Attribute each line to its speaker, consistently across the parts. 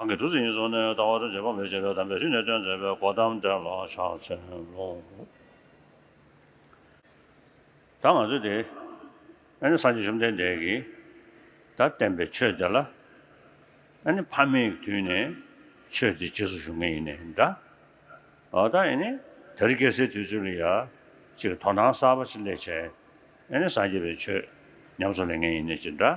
Speaker 1: གང་གི་དུས་སུ་ཡིན་སོགས་ནས་ལྟ་བ་དང་རྗེས་དཔག་མེད་བྱེད་པའི་དམ་པའི་གཞི་ནས་སྟོན་མཛད་པའི་གོ་ཐམས་དེ་ལ་ཕྱག་འཚལ་ལོ། ད་ང་ཚོས་དེ། ཨ་ནི་སངས་རྒྱས་བཅོམ་ལྡན་འདས་ཀྱིས་ད་བསྟན་པའི་ཆོས་དེ་ལ། ཨ་ནི་ཕ་མེས་ཀྱི་དུས་ནས་ཆོས་དེ་རྗེས་སུ་ཞུགས་ངེས་ཡིན་ནས་འདྲ། འོ་ད་ཨེ་ནི་ད་རི་སྐྱེ་སའི་དུས་ཚོད་ལ་ཡ། ཅིག་དོ་སྣང་གསར་པ་ཅིག་ལས་བྱས། ཨེ་ནི་སངས་རྒྱས་པའི་ཆོས་ཉམས་སུ་ལེན་ངེས་ཡིན་ནས་ཅི་འདྲ།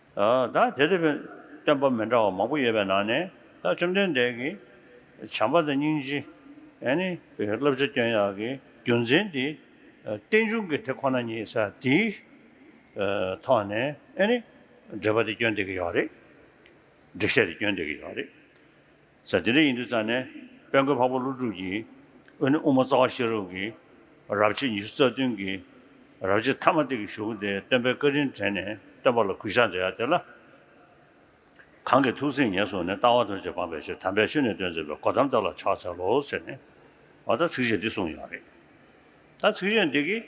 Speaker 1: ད་དེ་ལྟ་བུའི་སྟོན་པ་མི་འདྲ་བ་མང་པོ་ཡོད་པའི་ནང་ནས་ད་བཅོམ་ལྡན་འདས་ཀྱིས་བྱམས་པ་དང་སྙིང་རྗེ། བསླབ་བྱ་སྐྱོན་ཡག་གི་རྒྱུ་མཚན་དེ་རྟེན་འབྱུང་གི་དེ་ཁོ་ན་ཉིད་ས་དེའི་ཐོག་ནས་འགྲེལ་པ་དེ་སྐྱོན་འདེབས་ཀྱི་ཡོད་རེད། འགྲེལ་བཤད་དེ་སྐྱོན་འདེབས་ཀྱི་ཡོད་རེད། ཟེར། དེ་འདྲ་ཡིན་དུས་ཙང་ནས་དཔལ་མགོན་འཕགས་པ་ཀླུ་སྒྲུབ་ཀྱིས་དབུས་ན་དབུ་མ་རྩ་བ་ཤེས་རབ་ཀྱི་རབ་བྱེད་ཉི་ཤུ་རྩ་བདུན་གྱི་རབ་བྱེད་ཐ་མ་སྟེ་གྱི་གཞུང་དེ་སྟོན་པའི་བཀའ་དྲིན་དྲན་ནས་སྟོན་པ་ལ་གུས་ཕྱག་མཛད་ཡ་དེ་ལ། གང་གི་ཐུགས་སེམས་ངལ་བསོ་ནས་ལྟ་བ་དོན་བྱེད་སྤངས་པའི་ཕྱིར་དམ་པའི་ཆོས་ནས་སྟོན་མཛད་པའི་གོ་ཐམས་བདག་ལ་ཕྱག་འཚལ་ལོ་ཟེར་ནས། ད་ཚིག་གཞན་འདི་གསུངས་ཡོད་རེད། ད་ཚིག་གཞན་འདི་གིས་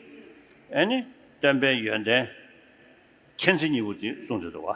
Speaker 1: ནི་སྟོན་པའི་ཡོན་ཏན་མཁྱེན་བརྩེ་གཉིས་པོ་དེ་གསུངས་འདོད་དོ།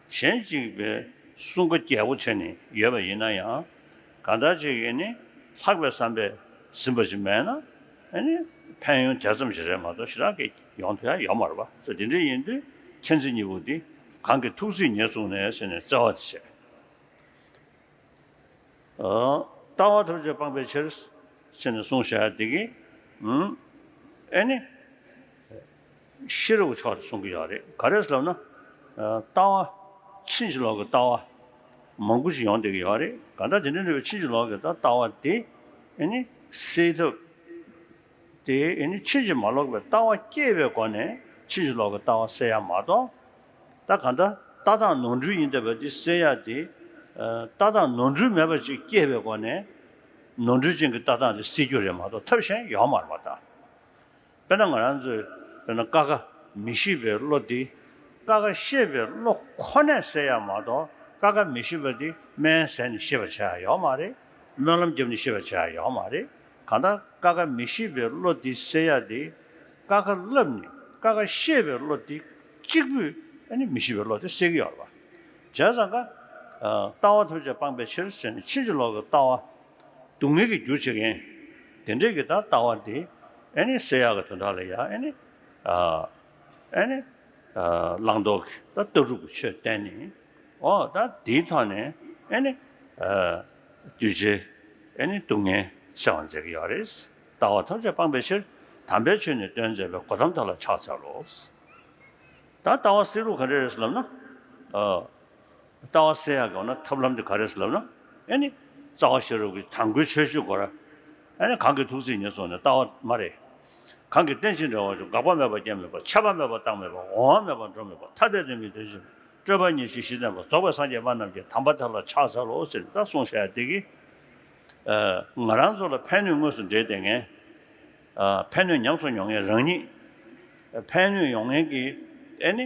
Speaker 1: གཞན་གཅིག་པའི་གསུང་སྐུ་རྒྱལ་པོ་ཆེ་ནི་ཡོད་པ་ཡིན་ན་ཡང་གང་ལྟར་ཅིག་ཡིན་ནི་ལྷག་པའི་བསམ་པས་ཟིན་པ་ཅིག་མེད་ན་ནི་ཕན་ཡོན་དེ་ཙམ་ཞིག་རེད་མ་གཏོགས་ཞེ་དྲག་གི་ཡོང་དོན་ཡང་ཡོད་མ་རེད་པ་ཚོ་དེ་འདྲའི་ཡིན་དུས་མཁྱེན་བརྩེ་གཉིས་པོ་འདི་གང་གི་ཐུགས་བརྩེས་ཉེས་བཙུགས་ནས་ཟེར་ནས་བརྩེ་བ་དེ་བྱས། ལྟ་བ་ཐུགས་རྗེ་སྤངས་པའི་ཕྱིར། ཟེར་ནས་གསུངས་བྱས་བདེ་སྐྱིད། ཨེ་ནི། ཤེས་རབ་ཀྱི་ཕྱོགས་ནས་གསུང་གི་ཡོད་རེད་ག་རེ་ལབ་ན། ལྟ་བ། ཕྱིན་ཅི་ལོག་གི་ལྟ་བ། མང་པོ་ཞིག་ཡོང་བསྡད་ཀྱི་ཡོད་རེད་ག་ད་དེ་འདྲ་འདྲ་བའི་ཕྱིན་ཅི་ལོག་གི་ལྟ་བ་དེ་ནི་སེལ་ཐབས། དེ་ནི་ཕྱིན་ཅི་མ་ལོག་པའི་ལྟ་བ་སྐྱེས་པའི་སྒོ་ནས་ཕྱིན་ཅི་ལོག་གི་ལྟ་བ་སེལ་ཡ་མ་གཏོགས། ད་ག་ད་ལྟ་སྟངས་ནོར་འཁྲུལ་ཡིན་བསྡད་པ་དེ་སེལ་ཡ་དེ། ལྟ་སྟངས་ནོར་འཁྲུལ་མེད་པ་ཅིག་སྐྱེས་པའི་སྒོ་ནས། ནོར་འཁྲུལ་ཅན་གྱི་ལྟ་སྟངས་དེ་སེལ་རྒྱུ་རེད་མ་གཏོགས་ཐབས་གཞན་ཡོད་མ་རེད་པ་ད། དཔེར་ན་ང་རང་ཚོས་དཔེར་ན་ཀ་ཁ་མི་ཤེས་པའི་བློ་འདི་ཀ་ཁ་ཤེས་པའི་བློ་ཁོ་ནས་བསལ་ཡག་མ་གཏོགས་ཀ་ཁ་མི་ཤེས་པ་འདི་སྨན་ཟས་ནས་ཤེས་པར་བྱ་ཡག་ཡོག་མ་རེད། སྨོན་ལམ་རྒྱབ་ནས་ཤེས་པར་བྱ་ཡག་ཡོག་མ་རེད། གང་ལྟར་ཀ་ཁ་མི་ཤེས་པའི་བློ་འདི་བསལ་ཡག་དེ། ཀ་ཁ་བསླབས་ནས་ཀ་ཁ་ཤེས་པའི་བློ་འདི་གཅིག་པུས་ནི་མི་ཤེས་པའི་བློ་དེ་བསལ་གི་ཡོག་རེད་པ། བྱས་ཙང་ཀ། ལྟ་བ་ཐུགས་རྗེ་སྤངས་པའི་ཕྱིར་ཟེར་ནས་ཕྱིན་ཅི་ལོག་གི་ལྟ་བ་སྡུག་བསྔལ་གྱི་རྒྱུ་བྱེད་མཁན། དེ་འདྲས་ཀྱི་ད་ལྟ་བ་འདི། ཨེ་ནི་བསེ་ཡག་གི་དོན་དག་ལ་ཡང་ཨེ་ནི། ཨེ་ནི། བླང་དོར་གྱི་ད་ལྟ་གྲུབ་ཀྱི་ཆོས་བསྟན་ནས། འོ་ད་འདིའི་ཐོག་ནས་ཨེ་ནི། གདུལ་བྱའི་ཨེ་ནི་སྡུག་བསྔལ་སེལ་བར་མཛད་ཀྱི་ཡོད་རེད། ལྟ་བ་ཐམས་ཅད་སྤངས་པའི་ཕྱིར། དམ་པའི་ཆོས་ནི་སྟོན་མཛད་པའི་གོ་ཐམས་དག་ལ་ཕྱག་འཚལ་ལོ། ད་ལྟ་བ་བསེ་རུ་ག་འདྲས་རེད་ལབ་ན། ལྟ་བ་སེ་ཡ་གོ་ན་ཐབས་ལམ་དེ་ག་རེད་ཟེར་ལབ་ན་ཨེ་ནི། རྩ་བ་ཤེས་རབ་ཀྱི་དང་པོའི་ཆོས་ཤེས་དགོ་ར། ཨེ་ནི་གང་གི་ཐུགས་ཚིག་ཉིད་སོགས་ནི་ལྟ་བ་མ་རེད། གང་གི་རྟེན་ཅིང་འབྲེལ་བ་ཅུང་འགག་པ་མེད་པ་རྐྱེན་མེད་པ་ཆད་པ་མེད་པ་རྟགས་མེད་པ་འོང་བ་མེད་པ་འགྲོ་མེད་པ་ཐ་དད་དོན་མེད་དོན་ཅིང་སྤྲོས་པ་ཉིད་ཅིག་གཞི་བརྟན་པ་རྫོགས་པའི་སངས་རྒྱས་པ་རྣམས་ཀྱི་དམ་པ་དག་ལ་ཕྱག་འཚལ་ལོ་ཟེར་ནས་ད་གསུངས་བྱ་ཡ་དེ་གི། ང་རང་ཚོ་ལ་ཕན་ནུས་དངོས་སུ་འབྲེལ་ཏེ་ངན། ཕན་ནུས་ཉམས་སུ་མྱོང་ངན་རང་ཉིད། ཕན་ནུས་ཡོང་ངན་གྱི། ཨེ་ནི།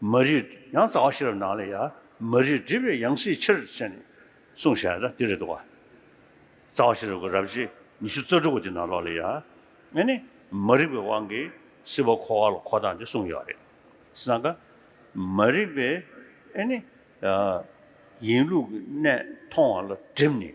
Speaker 1: མ་རིག་ཡང་རྩ་བ་ཤེས་རབ་ནང་ལས་ཡ། མ་རིག་སྒྲིབ་པའི་ཡང་སྲིད་ཕྱིར་བྱས་ནས། གསུང་བཤད་ན་དེ་རེ་དོ། རྩ་བ་ཤེས་རབ་ཀྱི་རབ་བྱེད་ཉི་ཤུ་རྩ་དྲུག་པོ་དེ་ནང་ལོགས་ལས་ཡ། ཨེ་ནི། མ་རིག་པའི་དབང་གིས་སྲིད་པ་འཁོར་བ་ལ་འཁོར་དང་འདི་གསུངས་ཡོད་རེད། སང་ཀ། མ་རིག་པས་ཨེ་ནི། ཡིན་ལུགས་ཀྱི་གནས་མཐོང་བ་ལ་བསྒྲིབས་ནས།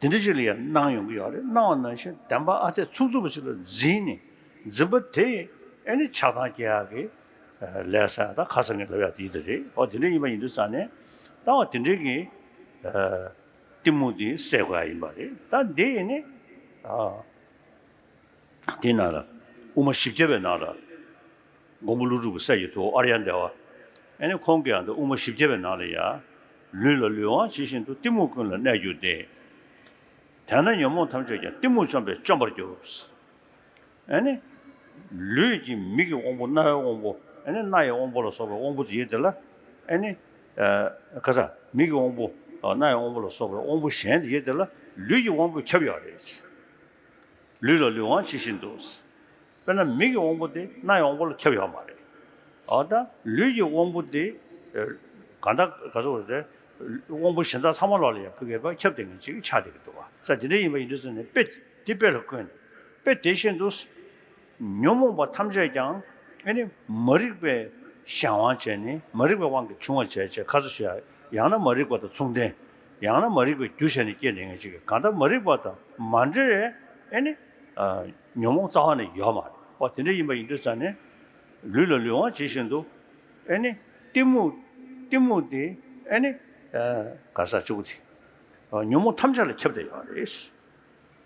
Speaker 1: དེ་འདྲ་ཞིག་ལ་ཡང་སྣང་ཡོང་གི་ཡོད་རེད་སྣང་བ་ནང་བཞིན་བདེན་པ་ཨ་ཚད་ཚུགས་ཚུགས་པ་ཞིག་ལ་འཛིན་ནས་འཛིན་པ་དེ་ཨེ་ནི་ཆགས་སྡང་སྐྱེ་ཡག་གི་ལས་སར་ད་ཁ་སང་གི་ལབ་ཡག་དེ་ཡིད་རེད་ཨོ་དེ་འདྲ་ཡིན་པ་ཡིན་དུས་ས་ནས་ད་འོ་དེ་འདྲ་གི་གཏི་མུག་དེ་སེལ་དགོས་ཡག་ཡིན་པ་རེད་ད་འདི་ཨེ་ནི། དེའི་ནང་ལ་དབུ་མ་བཞི་བརྒྱ་པའི་ནང་ལ་མགོན་པོ་ཀླུ་སྒྲུབ་ཀྱི་སྲས་ཀྱི་ཐུ་བོ་ཨརྱ་འདས་བ་ཨེ་ནི་ཁོང་གིའང་དབུ་མ་བཞི་བརྒྱ་པའི་ནང་ལ་ཡང་ལུས་ལ་ལུས་དབང་ཇི་བཞིན་དུ་གཏི་མུག་ཀུན་ལ་གནས་གྱུར་ཏེ། དེས་ན་ཉོན་མོངས་ཐམས་ཅད་ཀྱང་གཏི་མུག་བཅོམ་པས་བཅོམ་པར་གྱུར། ཨེ་ནི། ལུས་ཀྱི་མིག་གི་དབང་པོ་རྣ་བའི་དབང་པོ་ཨེ་ནི་སྣ་ཡི་དབང་པོ་ལ་སོགས་པའི་དབང་པོ་དེའི་དེ་ལ་ཨེ་ནི། ཁ་ས། མིག་གི་དབང་པོ། སྣ་ཡི་དབང་པོ་ལ་སོགས་པའི་དབང་པོ་གཞན་དེའི་དེ་ལ་ལུས་ཀྱི་དབང་པོས་ཁྱབ་ཡོད་རེད། ལུས་ལ་ལུས་དབང་ཇི་བཞིན་དུ། དཔེར་ན་མིག་གི་དབང་པོ་དེ་སྣའི་དབང་པོ་ལ་ཁྱབ་ཡོད་མ་རེད། འོ་ན་ལུས་ཀྱི་དབང་པོ་དེ་གང་དག་ག་ཚོད་རེད། དབང་པོ་གཞན་དག་ཚང་མ་ལོགས་ལ་ཡང་ཕུག་གེ་པ་ཁྱབ་བདེ་ངེས་ཅིག་ཆགས་བདེ་གི་འདུག་བ་ས་དེ་འདྲ་ཡིན་པ་ཡིན་དུས་ས་ནི་དཔེ་དེ་དཔེ་ལ་བཀོད་ནས་དཔེ་དེ་བཞིན་དུ། ཉོན་མོངས་པ་ཐམས་ཅད་ཀྱང་ཨེ་ནི་མ་རིག་པའི་གཞན་དབང་ཅན་ནི་མ་རིག་པའི་དབང་གིས་བྱུང་བ་བྱས་ཅེས་ཁ་ཚ་ཞུ་ཡང་ན་མ་རིག་པ་དང་མཚུངས་ལྡན། ཡང་ན་མ་རིག་པའི་རྒྱུ་བྱས་ནས་སྐྱེས་ནས་ངེས་བྱེད་ཀྱི་གང་དག་མ་རིག་པ་དང་མ་འབྲེལ་བའི་ཨེ་ནི། ཉོན་མོངས་རྩ་བ་ནས་ཡོད་མ་རེད། འོ་དེ་འདྲ་ཡིན་པ་ཡིན་དུས་ཙང་ནས། ལུས་ལ་ལུས་དབང་བྱེད་བཞིན་དུ། ཨེ་ནི། གཏི་མུག། གཏི་མུག་སྟེ་ཨེ་ནི། ག་ས་བཅུ་པོ་དེ། ཉོན་མོངས་ཐམས་ཅད་ལ་ཁྱབ་བརྡལ་ཡོད་རེད།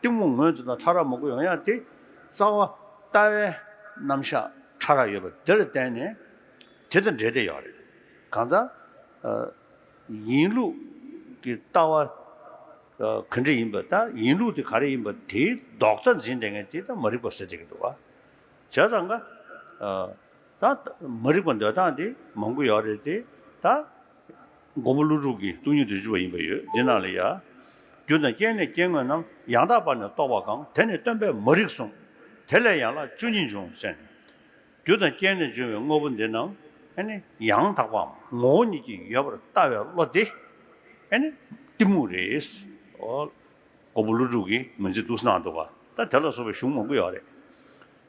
Speaker 1: གཏི་མུག་ངོས་འཛིན་དང་ཕྲ་རགས་མུ་གུ་ཡང་ཡང་སྟེ། རྩ་བ། ལྟ་བའི། རྣམ་གཞག། ཕྲ་རགས་ཡོད་པ་དེར་བརྟེན་ནས། དེ་དང་འབྲེལ་ཏེ་ཡོད་རེད། གང་ལྟར། ཡིན་ལུགས། ཀྱི་ལྟ་བ། གང་འདྲ་ཡིན་པ་དང་ཡིན་ལུགས་དེ་ག་རེ་ཡིན་པ་དེའི་ལྡོག་རྩ་འཛིན་ལས་ངན་དེ་དང་མ་རིག་པ་ཟེར་བྱེད་ཀྱི་འདུག་བ། བྱས་ཙང་ཀ། ད། མ་རིག་པ་འདོད་སྟངས་དེ་མང་པོ་ཡོད་རེད་དེ། ད། མགོན་པོ་ཀླུ་སྒྲུབ་ཀྱི་སྟོང་ཉིད་དུ་བཞུགས་པ་ཡིན་པར་ཡོད་དེ་རྣམས་ལས། རྒྱུ་དང་རྐྱེན་ནི་སྐྱེ་དངོས་རྣམས་ཡང་དག་པར་ནི་རྟོགས་པ་གང་དེ་ནི་སྟོན་པས་མ་རིག་གསུངས། དེ་ལས་ཡན་ལག་བཅུ་གཉིས་འབྱུང་བསྲེ། རྒྱུ་དང་རྐྱེན་ནི་འབྱུང་བའི་དངོས་པོ་འདི་རྣམས། ཡང་དག་པའམ་ངོ་བོ་ཉིད་ཀྱིས་ཡོད་པར་ལྟ་བའི་བློ་དེ། གཏི་མུག་རེད། མགོན་པོ་ཀླུ་སྒྲུབ་ཀྱིས་མི་འཛིན་དུ་གསུངས་སྣང་འདུག་ག་ད་དེ་ལ་སོགས་པའི་གཞུང་མང་པོ་ཡོད་རེད།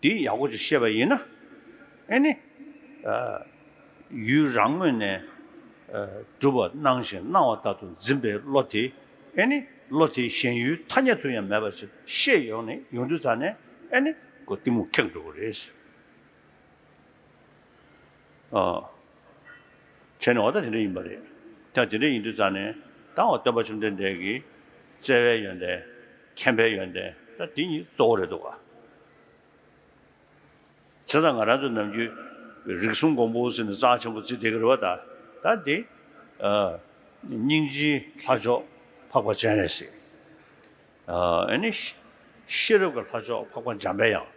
Speaker 1: འདི་ཡག་པོ་ཞིག་བཤད་པ་ཡིན་ན་ཨེ་ནི། ཡུལ་རང་ངོས་ནས་སྒྲུབ་པ་སྣང་ཞིང་སྣང་བ་དག་ཏུ་འཛིན་པའི་བློ་དེ་ཨེ་ནི། བློ་དེ་གཞན་ཡུལ་ཐ་སྙད་དུ་ཡང་མེད་པ་ཞིག་ཤེས་ཡོང་ནས་ཡོང་དུས་ཚར་ནས་ཨེ་ནི། སྒོ་གཏི་མུག་ཁེགས་འགྲོ་གི་རེད། བྱས་ནས་འོ་ད་དེ་འདྲ་ཡིན་པ་རེད། ཀྱང་དེ་འདྲ་ཡིན་དུས་རྩ་ནས་ད་འོ་སྟོན་པ་བཅོམ་ལྡན་འདས་ཀྱི་བརྩེ་བའི་ཡོན་ཏན། མཁྱེན་པའི་ཡོན་ཏན་ད་དེ་གཉིས་གཙོ་བོ་རེད་འདུག་ག། བྱས་ཙང་ང་རང་ཚོ་ནམ་རྒྱུན་རིག་གསུམ་མགོན་པོ་ཟེར་ནས་རྩ་ཆེན་པོ་བརྩི་བསྡད་ཀྱི་རེད་བ་ད། ད་དེ་སྙིང་རྗེའི་ལྷ་མཆོག་འཕགས་པ་སྤྱན་རས་གཟིགས། ཨ་ནི་ཤེས་རབ་ཀྱི་ལྷ་མཆོག་འཕགས་པ་འཇམ་དཔལ་དབྱངས།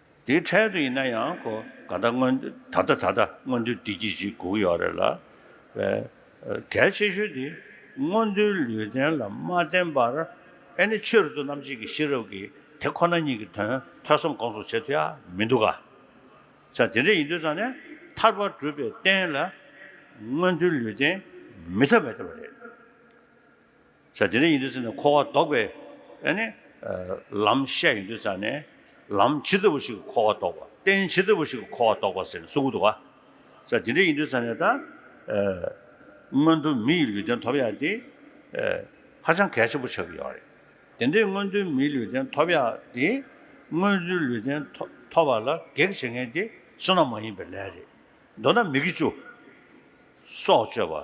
Speaker 1: དེའི་འཕྲལ་དུ་ཡིན་ན་ཡང་ཁོ་ག་ད་སྔོན་ད་ལྟ་ད་ལྟ་སྔོན་འདུལ་བསྡུས་ཀྱིས་ཅིག་སྒུག་ཡོད་རེད་ལ། གལ་ཆེ་ཤོས་དེ་སྔོན་འདུལ་ལུས་རྟེན་ལ་མ་བརྟེན་པར་ཨེ་ནི་ཆོས་རིག་ཏུ་རྣམ་འབྱེད་ཀྱི་ཤེས་རབ་ཀྱིས་དེ་ཁོ་ན་ཉིད་ཀྱི་དོན་ཐོས་བསམ་སྒོམ་གསུམ་བྱེད་ཐུབ་ཡ་མི་འདུག་ག། ཚེ་དེ་འདྲ་ཡིན་དུས་ཙང་ནས་ཐར་པ་སྒྲུབ་པའི་རྟེན་ལ་སྔོན་འདུལ་ལུས་རྟེན་མི་ཐབས་མེད་ཐབས་རེད། བྱ། དེ་འདྲ་ཡིན་དུས་ཚེ་ནི་འཁོར་བ་ལྡོག་པའི་ལམ་བཤད་ཡིན་དུས་ཚེ་ནི་ལམ་ཇི་ལྟ་བུ་ཞིག་གིས་འཁོར་བ་ལྡོག་པ། རྟེན་ཇི་ལྟ་བུ་ཞིག་གིས་འཁོར་བ་ལྡོག་པ་ཟེར་ནས་གསུང་གི་འདུག་ག། བྱ། དེ་འདྲ་ཡིན་དུས་ཚེ་ནི་ད་སྔོན་དུ་མི་ཡི་ལུས་རྟེན་ཐོབ་ཡག་འདི་ཧ་ཅང་གལ་ཆེན་པོ་ཆགས་ཀྱི་ཡོད་རེད། དེ་འདྲའི་སྔོན་དུ་མིའི་ལུས་རྟེན་ཐོབ་ཡག་འདི་སྔོན་དུ་ལུས་རྟེན་ཐོབ་པ་ལ་གེགས་བྱེད་མཁན་དེ་བསོད་ནམས་མ་ཡིན་པའི་ལས་རེད། མདོར་ན་མི་དགེ་བཅུ། སྲོག་གཅོད་པ།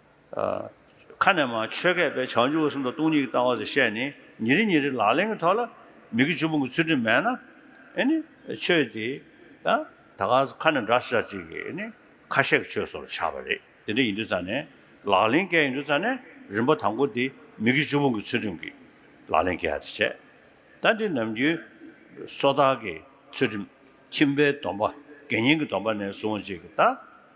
Speaker 1: ཁ་ནས་མ་ཆོས་མཁས་པས་བྱང་ཆུབ་གསུམ་དང་སྟོང་ཉིད་ཀྱི་ལྟ་བ་སོགས་བཤད་ནས་ཉིན་རེ་ཉིན་རེ་ལག་ལེན་གྱི་ཐོག་ལ་མི་དགེ་བཅུ་སྤོང་གི་ཚུལ་ཁྲིམས་མེད་ན། ནི། ཆོས་དེ། ད་ག་ཟེ་ཁ་ནས་འདྲ་ཞིག་འདྲ་ཅིག་གི་ནི། ཁ་ཤས་ཀྱི་ཆོས་སོགས་ལ་ཆགས་པ་རེད་དེ་འདྲ་ཡིན་དུས་ཙང་ནས་ལག་ལེན་སྐལ་ཡིན་དུས་ཙང་ནས་རིམ་པ་དང་པོ་དེ་མི་དགེ་བཅུ་སྤོང་གི་ཚུལ་ཁྲིམས་ཀྱི་ལག་ལེན་སྐལ་དེ་བྱས། ད་འདི་ནམ་རྒྱུན། སོ་ཐར་གྱི་ཚུལ་ཁྲིམས་ཁྱིམ་པའི་སྡོམ་པ་དགེ་བསྙེན་གྱི་སྡོམ་པ་ནས་བཟུང་བ་ཅིག་གི་ད།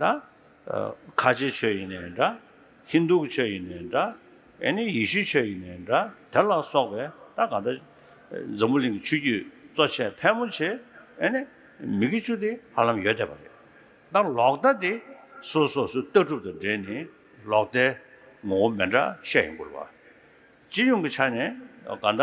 Speaker 1: ད། ཁ་ཆེ་ཆོས་ཡིན་ནའི་འདྲ། ཧིན་རྡུ་ཆོས་ཡིན་ནའི་འདྲ། ཨེ་ནི་ཡེ་ཤུ་ཆོས་ཡིན་ནའི་འདྲ། དེ་ལ་སོགས་པའི་ད་ག་ད། འཛམ་བུ་གླིང་གི་ཆོས་བརྒྱུད་གཙོ་ཆེ་ཕལ་མོ་ཆེ་ཨེ་ནི་མི་དགེ་བཅུ་དེ་ཧ་ལམ་ཡོད་བསྡད་པ་རེད། ད་ལོག་ལྟ་དེ་སོ་སོ་སོའི་ལྟ་གྲུབ་དང་འབྲེལ་ནས་ལོག་ལྟའི་ངོ་བོ་མེད་འདྲ་བཤད་ཡོང་དགོས་རེད་བ། སྤྱི་ཡོངས་ཀྱི་ཆ་ནས་ད་ག་ད།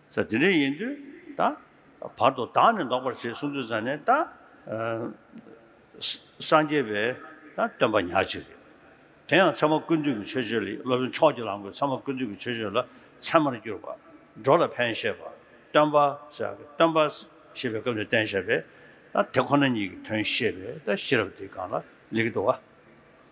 Speaker 1: ས་དེ་འདྲའི་ཡིན་དུས་ད། བར་དོ་དག་ནི་འདོགས་པར་བྱེད་གསུངས་དུས་ས་ནི་ད། སངས་རྒྱས་པས་ད་སྟོན་པ་ཉག་གཅིག་རེད། དེ་ཡང་ཚད་མ་ཀུན་འདུས་ཀྱི་ཆོས་སྤྱོད་ལས་སློབ་དཔོན་ཕྱོགས་ཀྱི་ལམ་གྱི་ཚད་མ་ཀུན་འདུས་ཀྱི་ཆོས་སྤྱོད་ལ་ཚད་མར་གྱུར་པ། འགྲོ་ལ་ཕན་བཞེད་པ། སྟོན་པ། སྟོན་པ། ཞེས་པའི་སྐབས་ནས་བསྟན་བཞག་པས། ད་དེ་ཁོ་ན་ཉིད་ཀྱི་དོན་ཤེས་པས་ད་ཤེས་རབ་དེའི་སྒང་ལ་ལེགས་འགྲོ་བ།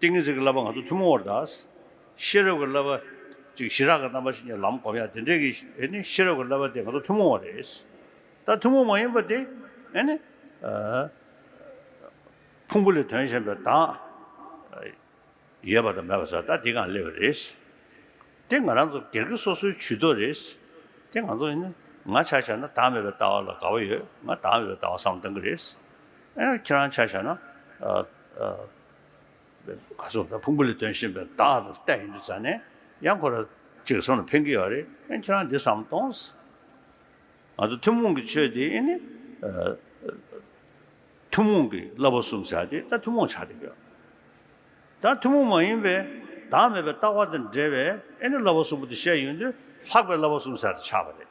Speaker 1: ཏིང་ངེ་འཛིན་གྱི་བསླབ་པ་ང་ཚོ་ཐུན་མོང་བར་གདའ། ཤེས་རབ་ཀྱི་བསླབ་པ། ཅིག་ཞི་རགས་ཀྱི་རྣམ་པ་ཞིག་ནས་ལམ་བསྒོམ་ཡ་དེ་འདྲས་ཀྱི། ཤེས་རབ་ཀྱི་བསླབ་པ་དེ་ང་ཚོ་ཐུན་མོང་བ་རེད། ད་ཐུན་མོང་མ་ཡིན་པ་དེ། ཕུང་པོ་ལས་དོན་གཞན་པའི་དང། ཡོད་པ་དང་མེད་པ་སོགས་ད་དེ་གང་སླེབས་པ་རེད། དེ་ང་རང་ཚོ་སྒེར་གྱི་སོ་སོའི་བྱུས་གཏོགས་རེད། དེ་ང་ཚོ། ང་ཆ་བཞག་ན་དྭངས་མེད་པའི་ལྟ་བ་ལ་དགའ་བ་ཡོད། ང་དྭངས་ཡོད་པའི་ལྟ་བ་བསམ་གཏན་གྱི་རེད། ཁྱེད་རང་ཆ་བཞག་ན། ག་ཚོད་ཕུང་པོ་ལས་དོན་བཞིན་པའི་བདག་ལྟ་ཡིན་དུས་ཚ་ནས་ཡང་ཁོ་ར་ཅིག་གསུམ་ལ་འཕེན་གྱི་ཡོད་རེད་དབེན་ཁྱེད་རང་འདི་བསམ་གཏོང། ང་ཚོ་ཐུན་མོང་གི་ཆོས་འདི་ཨེ་ནི། ཐུན་མོང་གི་བསླབ་པ་གསུམ་བྱ་དེ་ད་ཐུན་མོང་ཆགས་བསྡད་ཡོད། ད་ཐུན་མོང་མ་ཡིན་པའི་བདག་མེད་པའི་ལྟ་བ་དང་འབྲེལ་བའི་ཨེ་ནི་བསླབ་པ་གསུམ་པོ་འདི་བཤད་ཡོང་དུས་ལྷག་པའི་བསླབ་པ་གསུམ་ཟེར་དུ་ཆགས་པ་རེད།